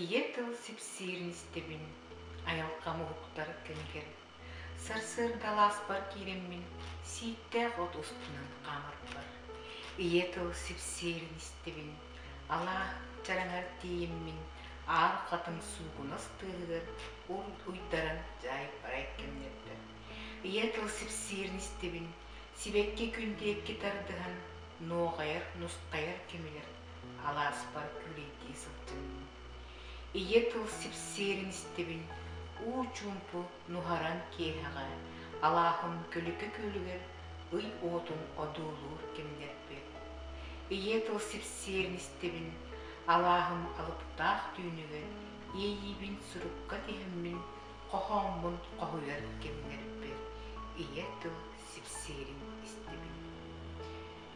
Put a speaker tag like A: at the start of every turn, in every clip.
A: ийэ тыл сипсиирин истэбин айылҕам уһуктар кэмигэр сарсыардалааспар киирэммин сииктээх от устунан хаамарбар ийэ тыл сипсиирин истэбин алаа чараҥар тиийиммин аар хатыҥ суугунас тыаһыгар ур уйдаран дьаайбарай кэмнэрбэр Ийэ тыл сипсиирин истибин, сибэкки күн диэкки тардыһан, нуоҕайар, нустайар кэмигэр алааспар күлэйдии сылдьынным. Ийэ тыл сипсиэрин истибин, уу чуумпу нуһаран киэһэҕэ алааһым көлүкэ күөлүгэр ый уотун одуулуур кэмнэрбит. Ийэ тыл сипсиэрин истибин, алааһым алыптаах түүнүгэр иэйиибин сурукка тиһиммин хоһооммун хоһуйар кэмнэриттэн ийэ тыл сипсиирин истибин.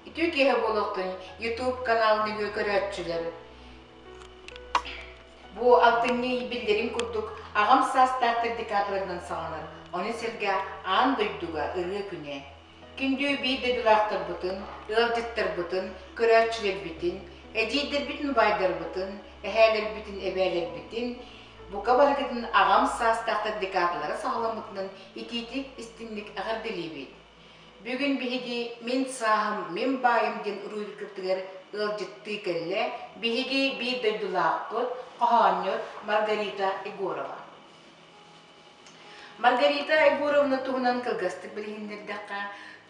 A: Үтүө киэһэ буолуохтун YouTube канал нөҥүө көрөөччүлэр. Бу алтынньы билдэрин курдук аҕам саастаах декабрьынан саҕаланар. Ону сэргэ аан дойдуга ырыа күнэ. Күндү биир дойдулаахтарбытын, ыалдьыттарбытын, көрөөччүлэрбитин, эдьиийдэрбитин убайдарбытын, эһээлэрбитин эбээлэрбитин, бука барыкытын аҕам саастаахтар декадалара саҕаламмытынан итиитик-истиҥник эҕэрдэлиибит! Бүгүн биһиги «Мин сааһым, мин баайым» диэн уруһуйдукпутугар ыалдьыттыы кэллэ биһиги биир дойдулаахпыт, хоһоонньут Маргарита Егорова. Маргарита Айгуровна туһунан кылгастык билиһиннэрдэххэ,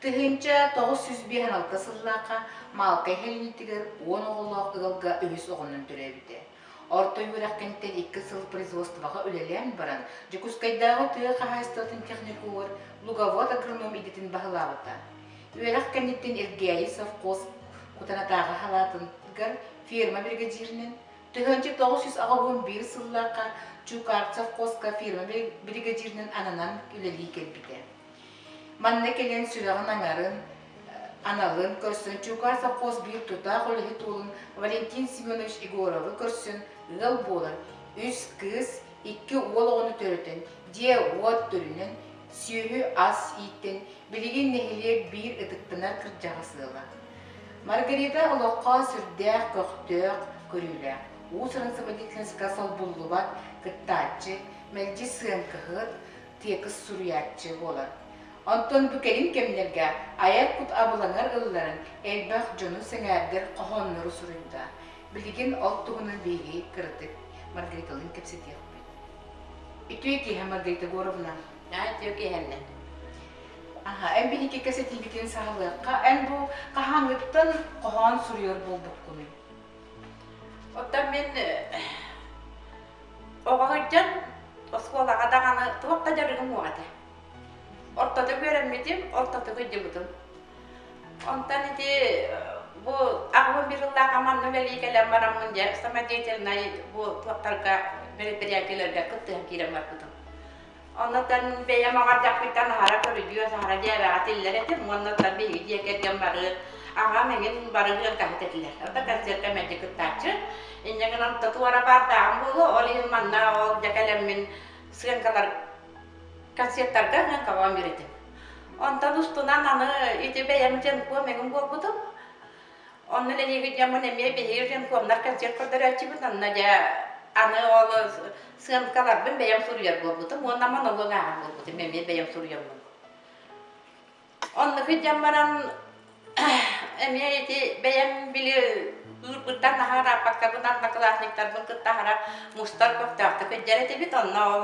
A: тыһыынча тоҕус сүүс биэс аналта сыллаахха Маалта иһэлинитигэр уон оҕолоох ыалга үһүс оҕонньон төрөөбүтэ. Орто үөрэхтэнтэн икки сыл производствоҕа үлэлээн баран, Дьокуускайдааҕы тыа хаһаайыстыбатын техникугар луговод агроном идэтин баһылаабыта. Үөрэх кэнниттэн Эргээйи совхоз Кутанатааҕы халаатыгар ферма биригэдьииринэн, Төһөөччү тоҕус сүүс аҕа уон биир сыллаахха Чукарцев-Коска фирмабай бригадирынан ананан үлэлии кэлбитэ. Манна кэлэн сүрэҕин аҥарын, аналын көрсөн Чукарцев-Кос биир тутаах үлэһит уолун Валентин Семенович Егоровы көрсөн ыал буолан үс кыыс, икки уол оҕону төрөтөн, дьиэ-уот төрүнэн, сүөһү-ас ииттэн билигин нэһилиэк биир ытыктынар кырдьаҕас ыала. Маргарита олоххо сүрдээх көхтөөх, көрүүлээх. Уус Ырансыбадитинска солбуллубат кыттааччы, мэлдьи сыаҥкаһыт, тиэкис суруйааччы буолар. Онтон бу кэлин кэмнэргэ айар кут абылаҥар ылларан элбэх дьону сэҥээрдэр хоһооннору суруйда. Билигин ол туһунан биһиги кыратык Маргариталыын кэпсэтиэхпит. Үтүө киэһэ, Маргарита Егоровна! Наадьа киэһэннэ. Аха, эн биһикки кэсэтиибитин саҕалыахха. Эн бу хаһааҥҥыттан хоһоон суруйар буолбуккунуй? Оттон мин оҕо сылдьан оскуолаҕа даҕаны туох да дьарыгым суох этэ. Ортото үөрэммитим, ортото кыдьыбытым. Онтон ити бу аҕабым биир сыллааҕы манна үлэлии кэлэн бараммын дьэ самодеятельнай бу туохтарга бэрэбиэркэлэргэ кыттыһан киирэн барбытым. Оннотон бэйэм аҕардахпыттан аһара көрүдүөс, аһара дьээбэҕэ тиллэр этим уоннатан биһиги дьиэ кэргэн бары аҕам эҥин барыһыан каһыт этилэр. Онто концертка мэлдьи кыттааччы. Инньэ гынан то туора баардааҕым буолуо, ол иһин манна ол дьэ кэлэммин сыаҥкалар концертарга сыаҥкаҕа үөрэтим. Онтон устунан аны ити бэйэм дьэнкуо мэҥим буолбутум. Оннун эниэбит дьоммун эмиэ биһиги ренкомнар кэлсиэр көрдөрөөччүбүт онно дьэ аны ол сыанкаларбын бэйэм суруйар буолбутум уонна монолог ааҕар буолбутум эмиэ бэйэм суруйаммын. Оннук дьон баран эмиэ ити бэйэм били ыырбыттан наһаа ырааппаккабын анна класниктарбын кытта аһара мустар көхтөөхтүк өйдөр этибит онно ол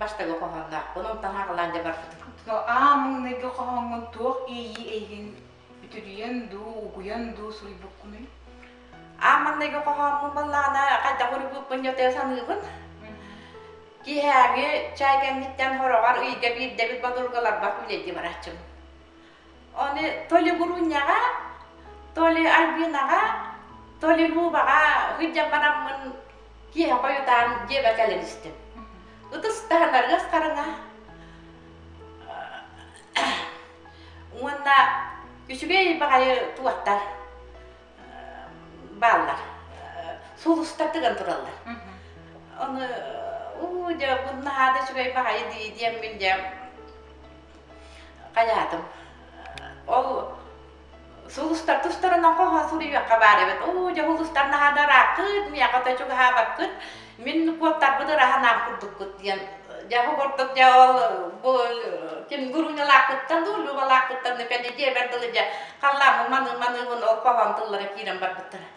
A: Бастакы хоһоонноохпун, онтон Хаҕылаан Дьабарфытын. Аа маҥнайгы хоһооҥҥун туох иэйии эйигин бүтүрүйэн дуу, угуйан дуу суруйбуккунуй? Аа маҥнайгы хоһооммун буоллаҕына, хайдах уруйбуппун ньотойо саныыбын. Киэһээҥи чай кэнниттэн хороҕор ыйга биирдэбит бодургаларбар үлэлии барааччым. Оны то ли Гурунняга, то ли Альбинага, то ли Лубаға ғыджам бараммын киһи қойутаан дьиэбэ кэлэн истим. Ытыс таһынаргас қарыңа уонна үчүгэй баҕайы туоттар бааллар сулустар тыган тураллар. Оны уу дьэ буннаһаада үчүгэй баҕайы дии диэммин дьэ Хайаатым. Ол сулустар тустарынан хоһоон суруйуохха баар эбит. Оо, дьэ сулустар наһаа да ырааххыт, миэхэ да чугаһаабаккыт, мин куоттарбыт ыраһанаан курдуккут диэн. Дьэ оҕордук дьэ ол бу ким гуруҥалаахпыттан дуу, Любалаахпыттан да пэни дьиэбэр дылы дьэ халлааммын маныы-маныыбын ол хоһоон тыллара киирэн барбыттара.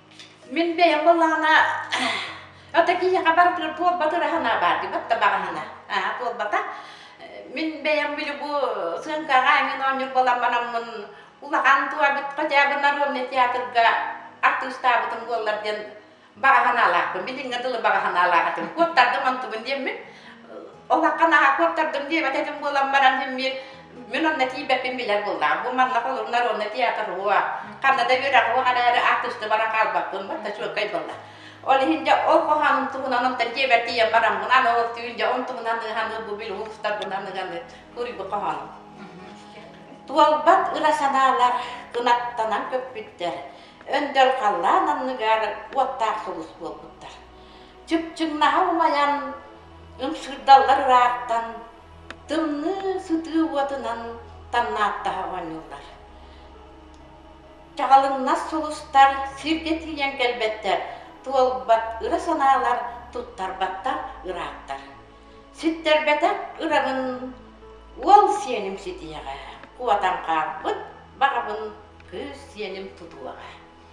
A: Мин бэйэм былаана ото киһиэхэ барытыгар буолбатыр аһына баар дибэт да баҕаһына аа буолбата мин бэйэм били бу сыаҥкаҕа эҥин оонньуур буоламманаммын улахан туабыт хотя бы народный театрга артыыстаабытым буоллар диэн баҕаһынаалаахпын билиҥҥэ дылы баҕаһынаалаах этим куоттардым онтубун диэммин Олахха наһаа куоттардым диэбэт этим буолан баран диммир мин онно тиийбэппин билэр буоллаам. Бу манна холур народно театрыгыа, ханна да үөрэҕиэ араары артыста баран хаалбаппын, барта чуоккай буолла. Ол иһин дьэ ол хоһоонум туһунан онтон дьиэбэр тиийэн бараммын аны ол түүн дьэ он туһунан ыһан бу бил уустарбынан ыганы куруйбу хоһоонум. Туолбат ыра санаалар кынаттанан көппүттэр. Өндөл халлаан анныгар уоттаах сулус буолбуттар. чыпчыҥнаһа умайан, ымсыырдаллар ырааттан, тымныы сытыы уотунан тамнааттаһа оонньууллар. Чаҕылыҥнас сулустар сиргэ тиийэн кэлбэттэр, туолбат ыра санаалар туттарбаттар ырааттар. Ситтэрбэтэх ыраҕын уол сиэним ситиэҕэ, куотан хаалбыт баҕабын кыыс сиэним тутуоҕа.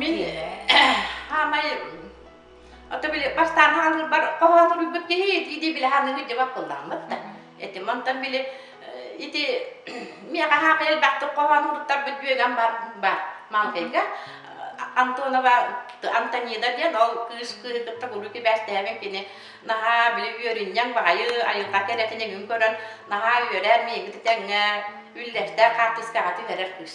A: Мин хаамай ото били бастаан хаалырбар хоһоон суруйбут киһи дии-дии билэ ханыыһы дьабап кыллааммыт да. Этим онтон били ити миэхэ хаамай элбэхтик хоһоон уруттарбыт бүөгэм бар бар маҥкайга Антонова Антонида диэн ол кыыс кыыһы кытта куруук кибээстэһэбин кини наһаа били үөрүнньэҥ баҕайы айылҕа кэрэтин эҥин көрөн наһаа үөрэр миигит тэҥҥэ үллэстэр хаартыскаҕа түһэрэр кыыс.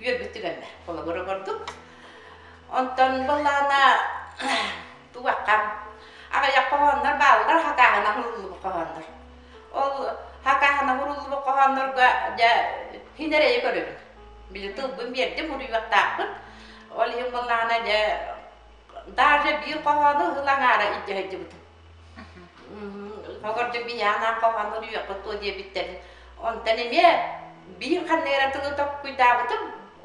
A: үөрбүт түгэннэ холобур көрдүк онтон былаана тугаккам аҕыйах хоһооннор бааллар хакааһына хуруллубут хоһооннор ол хакааһына хуруллубут хоһооннорго дьэ хин эрэйи көрөбүн били тылбын биэрдим уруйуохтаахпын ол иһин булнаана дьэ даже биир хоһоону ыһыл аҥаара илдьэ сылдьыбытым Хогордо биһээнээн хоһооннор үйэххэ туо диэбиттэр. Онтон эмиэ биир ханныгыра тылы токкуйдаабытым,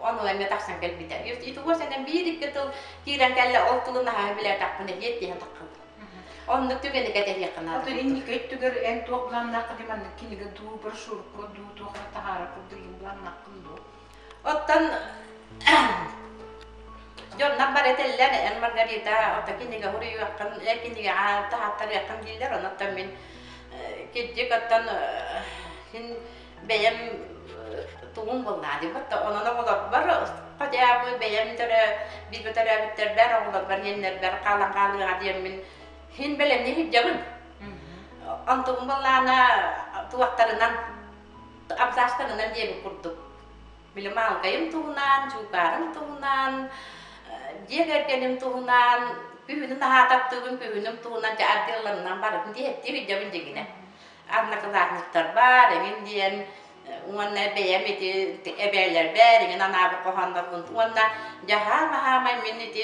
A: ону эмиэ тахсан кэлбитэ. Итуго сэнэн биир икки тыл киирэн кэллэ, ол тылын аһаһы билээтэхпин эмиэ диэн таххыбын. Оннук түгэни кэтэһиэххинэ. Оту инники өттүгэр эн туох буланнааххын маннык кинигэ дуу, брошюрка дуу, туох да таһаара курдук буланнааххын дуу? Оттон дьоннор бары этэллэр, эн Маргарита, ото кинигэ уруйуоххын, эр кинигэҕэ таһааттарыаххын дииллэр, оноттон мин кирдик, оттон син бэйэм тугум булнаадыбыт, онон оҕолорбор хотя бы бэйэм төрө биир төрөөбүттэрбэр оҕолорбор иэннэрбэр хаалан хаалыаҕа диэммин син бэлэмнии сылдьабын. Онтубун буллаана туохтарынан абзацтан ылар диэбит курдук били маалыкайым туһунан дьулкаарым туһунан дьиэ кэргэним туһунан күһүнү наһаа таптыыбын күһүнүм туһунан дьэ отделларынан барытын диэхтии иһирдьэбин дьигинэ анна кылаатынньыктар баар эҥин диэн уонна бэйэм ити эбээлэр баар эҥин анаабыт хоһооннорбун уонна дьаһаам аһаамай мин ити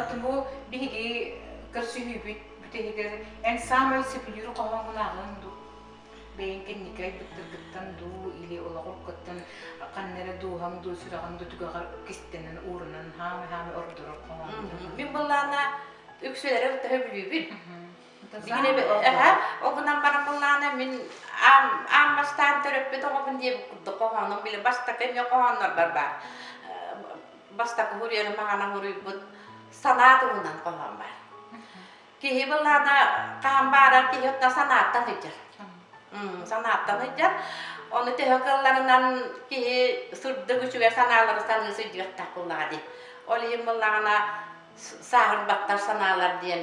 A: От бу биһиги көрсүһүүбүт бүтэһигэр эн саамай сөбүлүүр хоһооҥулааҕын дуу бэйэҥ кэнники айбыттаргыттан дуу или олоҕургуттан ханна эрэ дууһаҥ дуу сүрэҕиҥ дуу түгэҕэр кистэнэн уурунан хаамай хаамай ордорор хоһооҥ мин былаана үксүлэрэ төһө билиибин Бигин эһэ ол гынан баран быллаана мин аам аам бастаан төрөппүт оҕобун диэбит курдук хоһоонум били бастакы эмиэ хоһооннорбор баар бастакы хуруйарым маҕана хуруйбут санаа туһунан хоһоон бар киһи быллаана хаан бааран киһи отна санааттан ыйдьар санааттан ыйдьар ону төһө кылларынан киһи сырдык үчүгэр санаалары саныы сыдьыктах куллаҕа ди ол иһин быллаҕана сааһын баттар санаалар диэн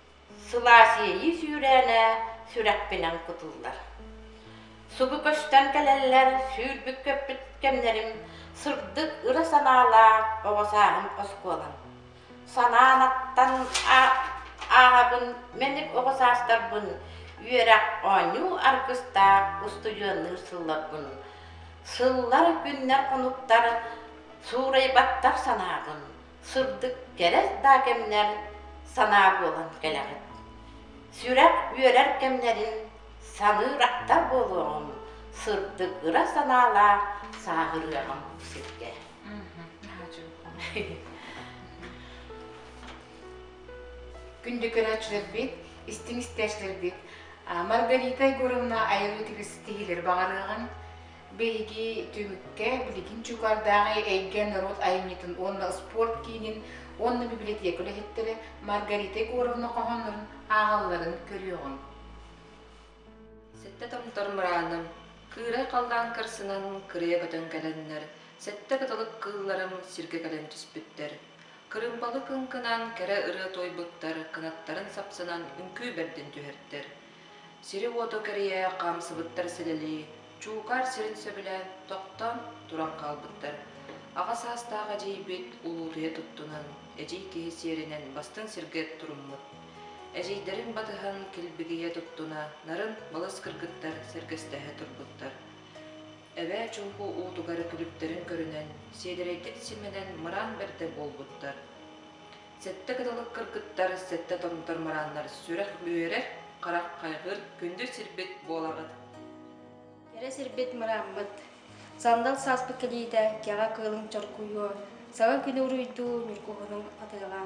A: Сылаас иэйии сүүрээнэ сүрэхпинэн кутуллар. Субу көстөн кэлэллэр, сүүрбүк көппүт кэмнэрим сырдык ыра санаалаах оҕо сааһым оскуолам. Санаан аттан ааҕабын мэник оҕо саастарбын үөрэх оонньуу аргыстаах устудьуоннуур сылларбын. Сыллар, күннэр, хонуктар суурайбаттар санаабын. сырдык кэрэ да кэмнэр санаа буолан кэлэҕит. Сүрэх үөрэр кэмнэрин саныыр ахтар буолуоҕуҥ, сырдык ыра санаалаах сааһырыаҕыҥ бу сиргэ. Күндү көрөөччүлэрбит, истиҥ истээччилэрбит, Маргарита Егоровна айылыы тигис тиһилэр баҕарыаҕын, Биһиги түмүккэ билигин Чуукардааҕы эйгэ норуот айымньытын уонна спорт киинин уонна библиотека үлэһиттэрэ Маргарита Егоровна хоһооннорун ааҕалларын көрүөҕүҥ. Сэттэ томтор мырааным, кыырай халлаан кырсынан кырыйа көтөн кэлэннэр, сэттэ кытылык кыылларым сиргэ кэлэн түспүттэр. Кырымпалы кыҥкынан кэрэ ырыа туойбуттар кынаттарын сапсынан үҥкүү бэрдин түһэртэр. сири-уоту кэрийэ хаамсыбыттар сэлэлии чуукаар сирин сөбүлэ тохтоон туран хаалбыттар аҕа саастаах эдьиийбит улуутуйа туттунан эдьиий киһи сиэринэн бастыҥ сиргэ туруммут эдьиийдэрин батыһан килбигийэ туттуна нарын мылыс кыргыттар сэргэстэһэ турбуттар эбээ чуумпу уутугар күлүптэрин көрүнэн сиэдэрэйдик симэнэн мыраан бэрдэ буолбуттар Сэттэ кыталык кыргыттар, сэттэ торумтар марааннар сүрэх үөрэр, харах хайҕыыр күндү сирбит буоларгыт. Кэрэ сирбит мырааммыт. Сандал сааспыт кэлиитэ кэҕэ кыылыҥ чоркуйуо, саҥа күнү уруйдуу ньургуһунуҥ атыаҕа.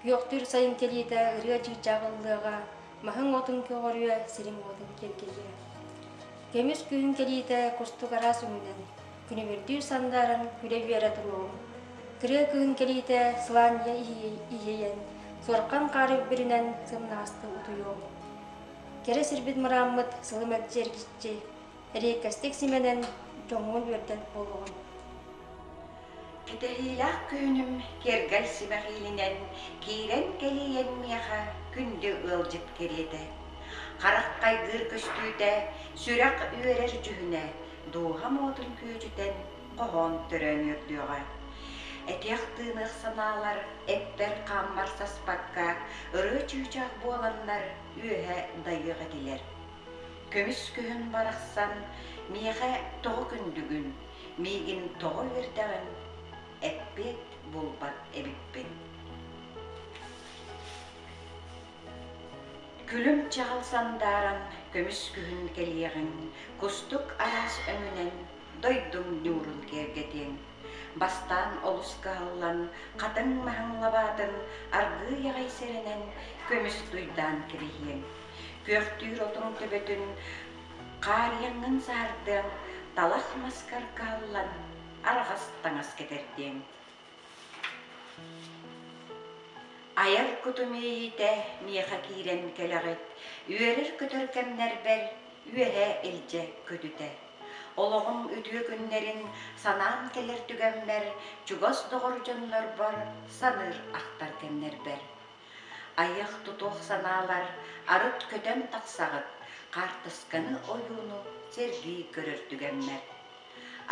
A: Күөхтүүр сайын кэлиитэ ырыа чыычаах ыллыаҕа, маһыҥ-уотуҥ көҕөрүө, сириҥ-уотуҥ киэргэлиэ. Көмүс күһүн кэлиитэ куртук араас үҥнэн, күнүбүрдүүр сандааран күрэ-бүөрэ туруоҕуҥ. Кырыа күһүн кэлиитэ сылаанньа иһийэн, сорҕан хаар үрдүнэн сымнаҕастык утуйуоҥ. Кэрэ сирбит мырааммыт сылы мэлдьи эргиччи, Риэккэстик симэнэн дьоҥҥун үөрдэн буолуоҕун. Бүтэһиилээх күһүнүм кэргэл сибэх иилинэн киирэн кэлиэн миэхэ күндү ыалдьыт кэриэтэ. Харах хайгыыр көстүүтэ, сүрэх үөрэр дьүһүнэ дууһа моотун күөдьүтэн хоһоон төрөөн үрдүөҕэ. Этиэх тыыныах санаалар эппэр хааммар саспакка ырыа чыычаах буоланнар үөһэ дайыах этилэр. Көмүс күһүн барахсан, миэхэ тоҕо күндүгүн, миигин тоҕо үөрдэҕин эппиэт булбат эбиппин. Күлүм-чаҕыл сандааран көмүс күһүн кэлиэҕин, кустук алаас өҥүнэн дойдуҥ ньуурун киэргэтиэҥ. Бастаан олус кыһаллан, хатыҥ маһыҥ лабаатын аргыый аҕай сэрэнэн көмүс туйдаан кэбиһиэҥ. Күөхтүүр отун төбөтүн хаарыйаҥҥын саардыаҥ, талах маскар кааллан, арҕас таҥас кэтэрдиэҥ. Айар куту миэйитэ миэхэ киирэн кэлэҕит, үөрэр-көтөр кэмнэрбэр үөһэ илдьэ көтүтэ. Олоҕум үтүө күннэрин санаан кэлэр түгэммэр чугас доҕор дьоннорбор саныыр ахтар кэмнэрбэр Айах тутуох санаалар арыт көтөн тахсаҕыт, хаартысканы ойууну сэргии көрөр түгэммэт.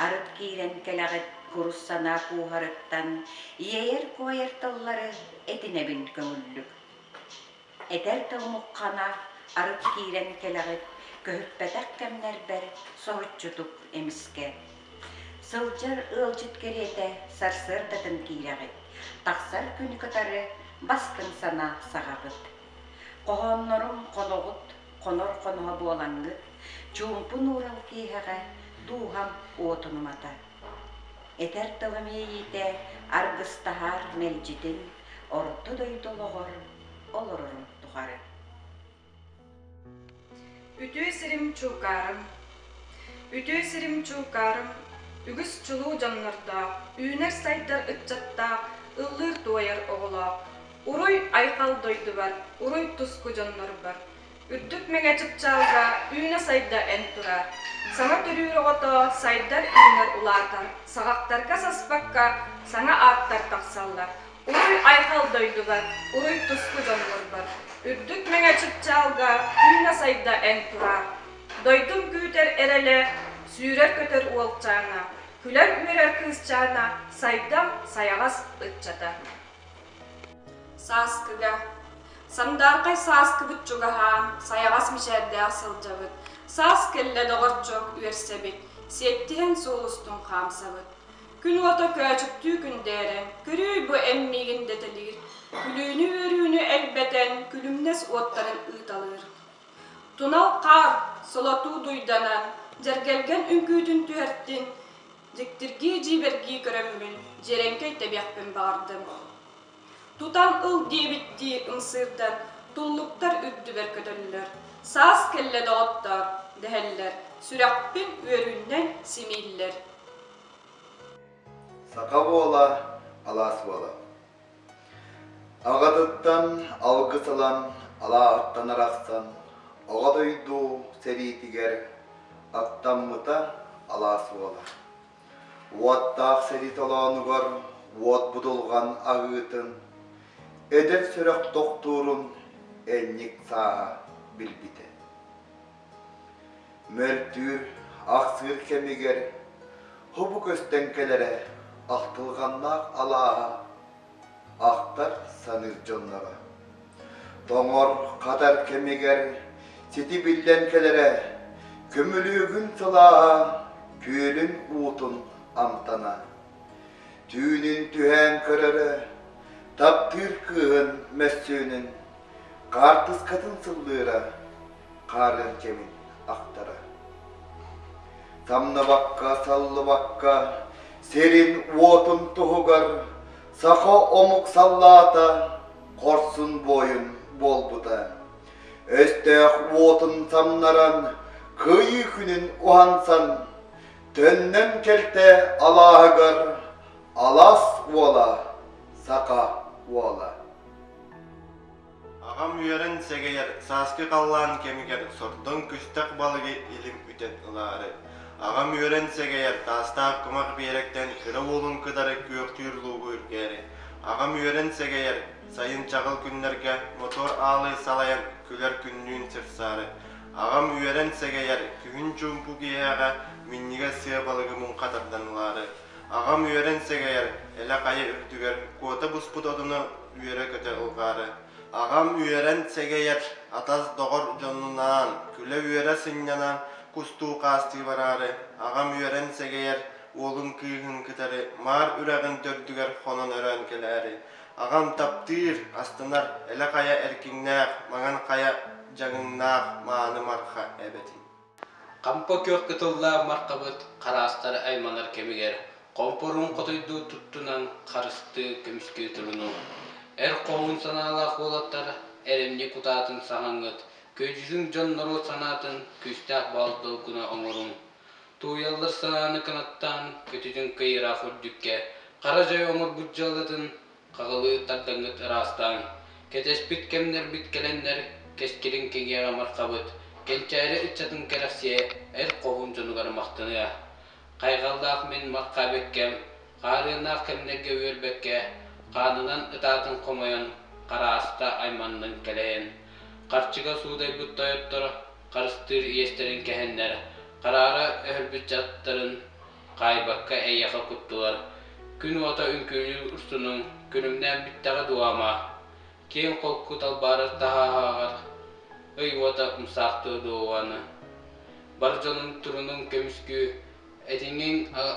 A: Арыт киирэн кэлэҕит курус санаа кууһарыттан иэйэр-куойар тыллары этинэбин көҥүллүк. Этэр да омукхана арыт киирэн кэлэҕит, көһүппэтэх кэмнэрбэр соһуччутук эмискэ Сылдьар ыалдьыт кэриэтэ сарсыардатын киирэҕит, тахсар күнү кытары бастыҥ санаа саҕаҕыт. Хоһооннорум хоноҕут, хонор хоноһо буолаҥҥыт, чуумпун уурал киэһэҕэ дууһам уотун умата. Этэр тылым иэйиитэ аргыстаһаар мэлдьитин, орто дойду олоҕор олорорум тухары. Үтүө сирим чуукаарым Үтүө сирим чуукаарым Үгүс чулуу дьоннордоох, Үүнэр-сайдар ыччаттаах, Ыллыыр-туойар оҕолоох, Уруй-айхал дойдубар, Уруй-туску дьоннорбор. Үрдүк мэҥэ чыпчаалга Үүнэ-сайда эн тураар. Саҥа төрүүр оҕото сайдар-үүнэр улаатар, Саҕахтарга-саспакка Саҥа ааттар тахсаллар. Уруй-айхал дойдулар, уруй-туску дьоннорбор! Үрдүк мэҥэ чыпчаалга күүнэ-сайда эн тураа! Дойдум күүтэр эрэлэ, сүүрэр-көтөр уолчаана, күлэр-үөрэр кыысчаана, сайдам, сайаҕас ыччата. Сааскыга Сандаархай сааскыбыт чугаһаан, сайаҕас мичээрдээх сылдьабыт. Саас кэллэ доҕорчуок үөрсэбит, сиэттиһэн суол устун хаамсабыт. Күн уота көөчүктүү күндээрэ, көрүүй бу эн миигин дэтэлиир, күлүүнү-үөрүүнү элбэтэн, күлүмнэс уоттарын ыыталыыр. Тунал хаар солотуу дуйданан, дьэргэлгэн үҥкүүтүн түһэртин, дьиктиргии-дьиибэргии көрөммүн, дьиэрэҥкэй тэбиэхпин баҕардым Тутан ыл диэбиттии ымсыырдар, туллуктар үрдүбэр көтөллөр. Саас кэллэ доҕоттоор, дэһэллэр, сүрэхпин үөрүүннэн симииллэр. Саха буола, алаас буола. Аҕатыттан алгыс ылан, алаартан арахсан, оҕо дойду сэриитигэр аттаммыта алаас буола. Уоттаах сэрии толоонугар уот будулҕан аһыытын, эдэр сүрэх тохтуурун энньик сааһа билбитэ. Мөлтүүр, ахсыыр кэмигэр хобу көстөн кэлэрэ ахтылҕаннаах алааһа ахтар, саныыр дьонноро. Тоҥор, хатар кэмигэр сити биллэн кэлэрэ, көмүлүөгүн сылааһа күөлүн уутун амтана. Түүнүн түһээн көрөрө, таптыыр кыыһын мөссүөнүн, хаартыскатын сыллыыра, хаарыан кэбин ахтара. Самнабакка, саллыбакка, сирин-уотун туһугар саха омук саллаата хорсун буойун буолбута. Өстөөх уотун самнаран, кыйыы күнүн уһансан, төннөн кэлтэ алааһыгар алас уола, саха уола. Аҕам үөрэн сэгэйэр сааскы халлаан кэмигэр сордоҥ күстэх балыгы илим үтэн ылаары, аҕам үөрэн сэгэйэр таастаах кумах биэрэктэн кыра уолун кытары күөхтүүр луугу үргээри, аҕам үөрэн сэгэйэр сайын чаҕыл күннэргэ мотор аалы салайан күлэр күннүүн сырсаары, аҕам үөрэн сэгэйэр күһүн чуумпу киэһэҕэ минньигэс сыа балыгы муҥха тардан ылаары, аҕам үөрэн сэгэйэр элэ хайа үрдүгэр куота буспут отуну үөрэ-көтө ылҕаары, аҕам үөрэн сэгэйэр атас-доҕор дьоннунаан күлэ-үөрэ сынньанар кустуу хаастыы бараары, аҕам үөрэн сэгэйэр уолун кыыһын кытары маар үрэҕин төрдүгэр хонон өрөөн кэлээри, аҕам таптыыр, астанар элэ-хайа эркиннээх маҥан хайа дьаҥыннаах мааны марха эбэтин. Хампа күөх кытыллаах мархабыт хараастары айманар кэмигэр хомпоруун хотойдуу туттунан харыстыы көмүскүү турунуҥ. Эр хоһуун санаалаах уолаттар эрэмньи кутаатын саһаҥҥыт, күөдьүтүн дьон норуот санаатын күүстээх баал долгуна оҥоруҥ. Тууйаллар санааны кынаттаан, көтүтүн кыйыраах үрдүккэ, хара дьай оҥорбут дьаллатын Хаһылыы тардаҥҥыт ыраастааҥ. Кэтэспит кэмнэрбит кэлэннэр, кэскилин киҥиэҕэ маххабыт, кэнчээри ыччатын кэрэхсиэ, эр хоһуун дьонугар махтаныа. Хайҕаллаах мин маххабиккэм, хаарыаннаах кэмнэргэ үөрбэккэ, хаанынан ытаатын хомойон, харааста айманнын кэлэйэн. Харчыга суудайбыт тойотторо, харыстыыр иэстэрин кэһэннэр, хараара өһөрбүт дьадтарын, хаайбакка эйиэхэ куттулар. Күн уота үҥкүүлүүр устунуҥ күнүмнээн бүттэҕэ дуо ама? Киэҥ холку талбаарар таһааһаҕар ый уота умсаахтыа дуо аны? Бар дьонуҥ турунуҥ көмүскүү, этиҥҥиҥ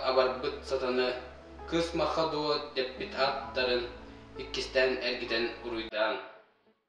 A: абарбыт сатаны кыс махха дуо дэппит аттарын иккистээн эргитэн уруйдааҥ.